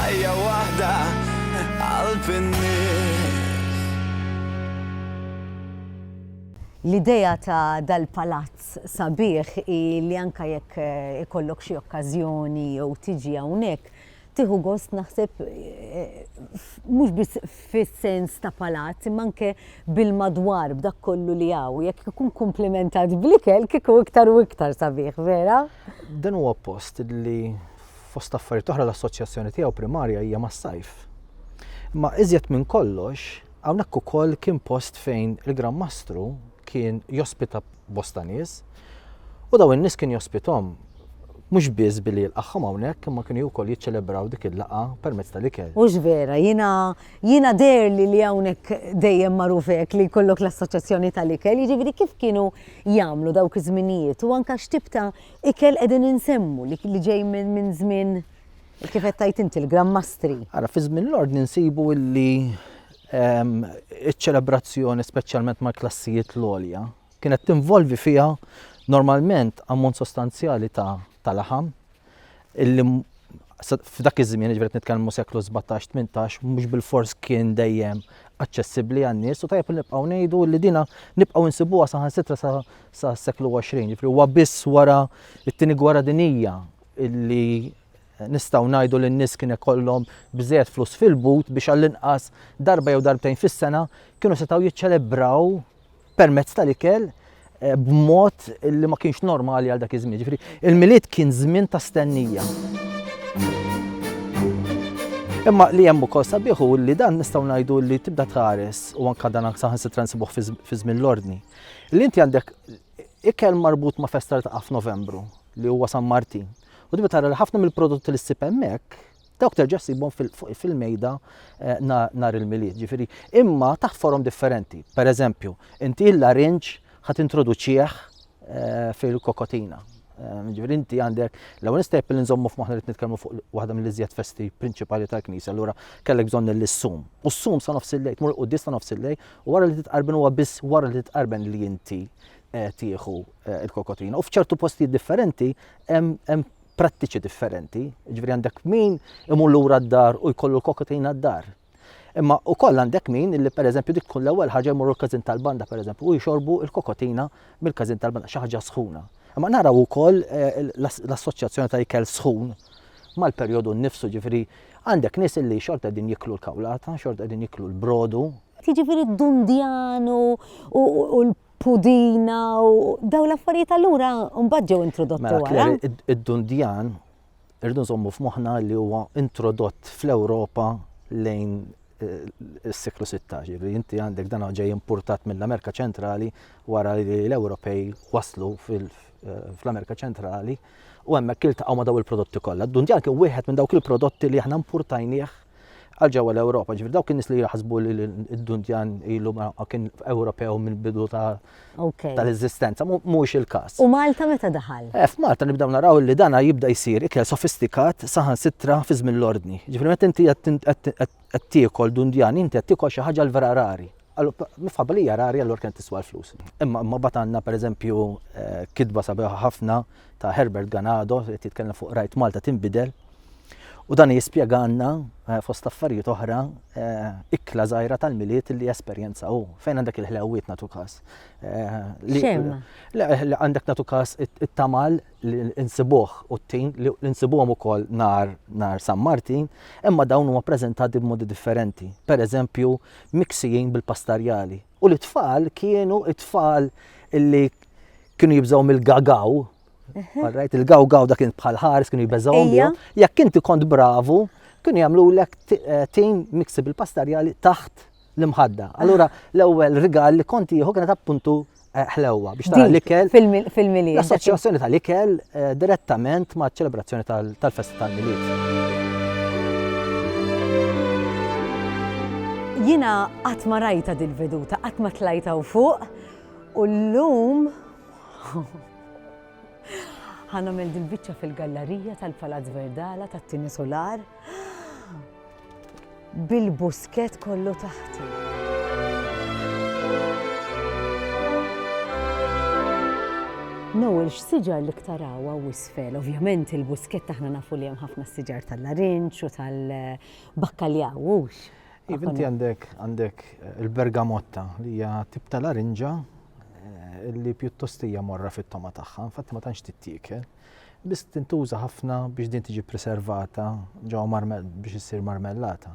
Ħajja waħda qalb in-nies. L-idea ta' dal-palazz sabiħ hi li anke jekk ikollok xi okkażjoni jew tiġi hawnhekk, tieħu gost naħseb mhux biss fis-sens ta' palazz imma anke bil-madwar, b'dak kollu li hawn. Jekk ikun komplimentat bl-ikel kieku iktar u iktar sabiħ, vera? Dan huwa post li fost affarijiet oħra l-assoċjazzjoni tiegħu primarja hija mas-sajf. Imma iżjed minn kollox, hawnhekk ukoll kien post fejn il-Gran Mastru kien jospita bosta nies u daw in-nies kien jospitom mhux biss billi jilqagħhom hawnhekk imma kienu wkoll jiċċelebraw dik il-laqgħa permezz tal-ikel. Hux vera, jiena jiena derli li hawnhekk dejjem magħruf hekk li jkollok l-assoċjazzjoni tal-ikel, jiġifieri kif kienu jagħmlu dawk iż-żminijiet u anke x'tib ta' Ikel qegħdin insemmu li li ġej minn min żmien kif qed tajt inti l-grammastri. Ara fi żmien l-ordni nsibu illi ehm, iċ-ċelebrazzjoni speċjalment mal-klassijiet l-għolja kienet tinvolvi fiha normalment ammont sostanzjali ta' ta' laħam illi f'dak iż-żmien, ġifieri nitkellmu seklu 17-18, mhux bil-fors kien dejjem aċċessibbli għan-nies u tajjeb li nibqgħu ngħidu li dina nibqgħu nsibuha saħansitra sa sas-seklu 20, ġifieri huwa biss wara t-Tieni Gwerra Dinjija li nistgħu ngħidu li n-nies kien ikollhom biżżejjed flus fil-but biex għall-inqas darba jew darbtejn fis-sena kienu setgħu jiċċelebraw permezz tal-ikel Eh, b'mod li ma kienx normali għal dak iż-żmien. Ġifieri, il-milied kien żmien ta' stennija. Imma li hemm ukoll sabiħu li dan nistgħu ngħidu li tibda tħares u anke dan saħansitra nsibuh fi żmien l-ordni. Li inti għandek ikel marbut ma' festa li taqa' f'Novembru li huwa San Martin. U tibda tara li ħafna mill-prodotti li ssib hemmhekk dawk terġa' ssibhom fil-mejda eh, nhar il-milied. Ġifieri, imma taħt forom differenti. Per eżempju, inti l-larinġ ħat introduċieħ eh, fil-kokotina. Eh, ġifieri inti għandek l-ewwel nistep li nżommu f'moħħna li nitkellmu fuq waħda mill-iżjed festi prinċipali tal-Knisja, allura kellek bżonn l-sum. U s-sum sa nofs il-lejl, tmur quddis sa nofs il-lejl, U wara li titqarben huwa biss wara li titqarben li inti eh, tieħu eh, il-kokotina. U f'ċertu postijiet differenti hemm prattiċi differenti. Ġifieri għandek min imur lura d-dar u jkollu l-kokotina d-dar. Imma u koll għandek min li per eżempju dik tkun l-ewwel ħaġa jmur l-każin tal-banda per eżempju u jxorbu l-kokotina mill-każin tal-banda xi ħaġa sħuna. Imma naraw ukoll eh, l-assoċjazzjoni ta' ikel sħun mal-perjodu nnifsu ġifieri Għandek nies illi xorta qegħdin jieklu l-kawlata, xorta qegħdin jieklu l-brodu. Jiġifieri d-dundjan u l pudina u daw l-affarijiet allura mbagħad ġew introdotti mela, wara. Id-dundjan irdu nżommu f'moħħna li huwa introdott fl-Ewropa lejn is-seklu 16, li inti għandek dan ġej importat mill-Amerika ċentrali wara li l-Ewropej waslu eh, fl-Amerika ċentrali u hemmhekk iltaqgħu ma' daw il-prodotti kollha. Dundjan kien wieħed minn dawk il-prodotti li aħna importajnieh għal ġewwa l-Ewropa. Ġifier dawk in-nies li jaħsbu li d-Dundjan ilu ma kien Ewropew mill-bidu ta' tal-eżistenza, mhux il-każ. U Malta meta daħal? Eh, f'Malta nibdew naraw li dana jibda jsir ikel sofistikat saħansitra fi żmien l-ordni. Ġifieri meta inti qed tiekol dundjan, inti qed tiekol xi ħaġa l-vera rari. Mifħabba li hija rari allura kien tiswa l-flus. Imma imma bad għandna pereżempju eh, kitba sabiħa ħafna ta' Herbert Ganado, qed jitkellem fuq Rajt Malta tinbidel. U dan jispjeganna eh, fost affarijiet oħra eh, ikla żgħira tal-miliet li esperjenza u fejn għandek il-ħlewwiet natu każ. Eh, li għandek natu każ it-tamal li insibuh u t-tin li insibuhom ukoll nar nar San Martin, imma dawn huma preżentati b'modi differenti. Per eżempju, miksijin bil-pastarjali U l-itfal kienu it-tfal illi kienu jibżaw mill-gagaw, għarrajt, il-gawgaw dak kien bħal ħares kienu jibżaw miegħu, jekk inti kont bravu, kienu jagħmlu lek eh, tim miksib il-pastarjali taħt l-imħadda. Allura l-ewwel rigal li konti jieħu kienet appuntu eh, ħlewwa biex tara l-ikel. Fil-miliet. L-assoċjazzjoni tal-ikel eh, direttament ma' ċelebrazzjoni tal-festa tal-miliet. Jiena qatt ma rajtha dil-veduta, qatt ma tlajt hawn fuq u llum ħa nagħmel dil-biċċa fil-gallarija tal-Palazz Verdala tat-tieni sular bil-buskett kollu taħti. Noel, x'siġar li ktaraw hawn isfel? Ovvjament il-buskett aħna nafu li hemm ħafna siġar tal-larinġ u tal- Bakkaljaw, hux. Iva, inti għandek għandek eh, il-bergamotta li hija tip ta' larinġa eh, li pjuttost hija morra fit-toma tagħha, infatti ma tantx tittiekel. Biss tintuża ħafna biex din tiġi preservata ġo marmel biex issir marmellata.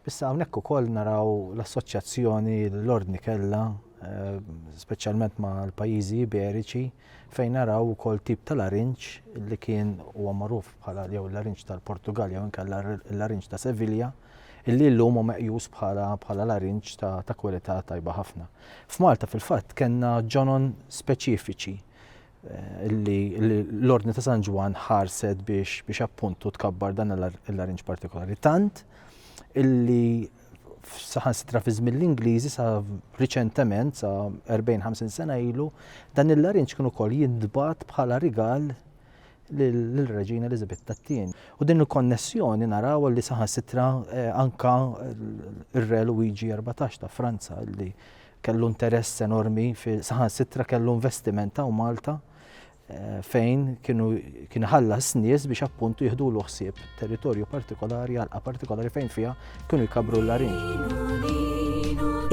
Bissa hawnhekk ukoll naraw l-assoċjazzjoni l-ordni kellha, eh, speċjalment ma' l-pajjiżi Iberiċi, fejn naraw ukoll tip ta' larinġ li kien huwa magħruf bħala jew il-larinġ tal-Portugal jew inkella l-larinġ ta' Sevilja, illi llum hu meqjus bħala bħala larinġ ta' ta' kwalità tajba ħafna. F'Malta fil-fatt kellna ġonon speċifiċi illi l-Ordni ta' San Ġwann ħarset biex biex appuntu tkabbar dan il-larinġ partikolari tant illi saħansitra fi żmien l-Ingliżi sa riċentement sa 40-50 sena ilu, dan il-larinġ kien ukoll jintbagħat bħala rigal lill-Reġina Elizabeth tat-tien. U din il-konnessjoni naraw li saħansitra eh, anka ir-Re Luigi 14 ta' Franza li kellu interess enormi fi saħansitra kellu investiment ta' Malta fejn kienu kien ħallas nies biex appuntu jihdu l ħsieb territorju partikolari għalqa partikolari fejn fiha kienu jkabru l-larinġ.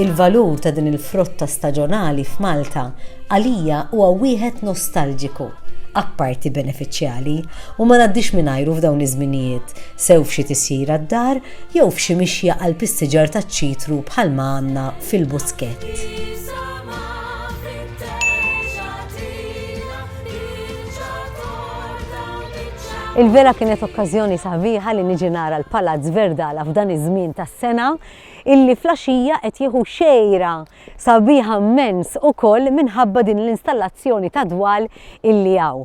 Il-valur ta' din il-frotta staġonali f'Malta għalija huwa wieħed nostalġiku apparti benefiċjali u ma naddix mingħajru f'dawn iż-żminijiet sew f'xi tisjir għad-dar jew f'xi mixja għal pistiġar taċ-ċitru bħalma għandna fil-Buskett. Il-vela kienet okkażjoni sabiħa li niġi nara l-Palazz Verdala f'dan iż-żmien tas-sena illi fl-għaxija qed jieħu xejra sabiħa mmens ukoll minħabba din l-installazzjoni ta' dwal illi hawn.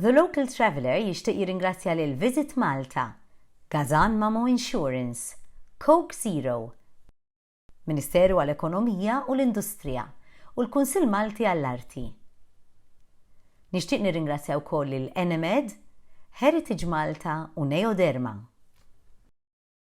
The Local Traveller jixtieq jirringrazzja lil Visit Malta, Gazan Mamo Insurance, Coke Zero, Ministeru għall-Ekonomija u l-Industrija u l-Kunsill Malti għall-Arti. Nixtieq nirringrazzja wkoll lil Enemed, Heritage Malta u Neoderma.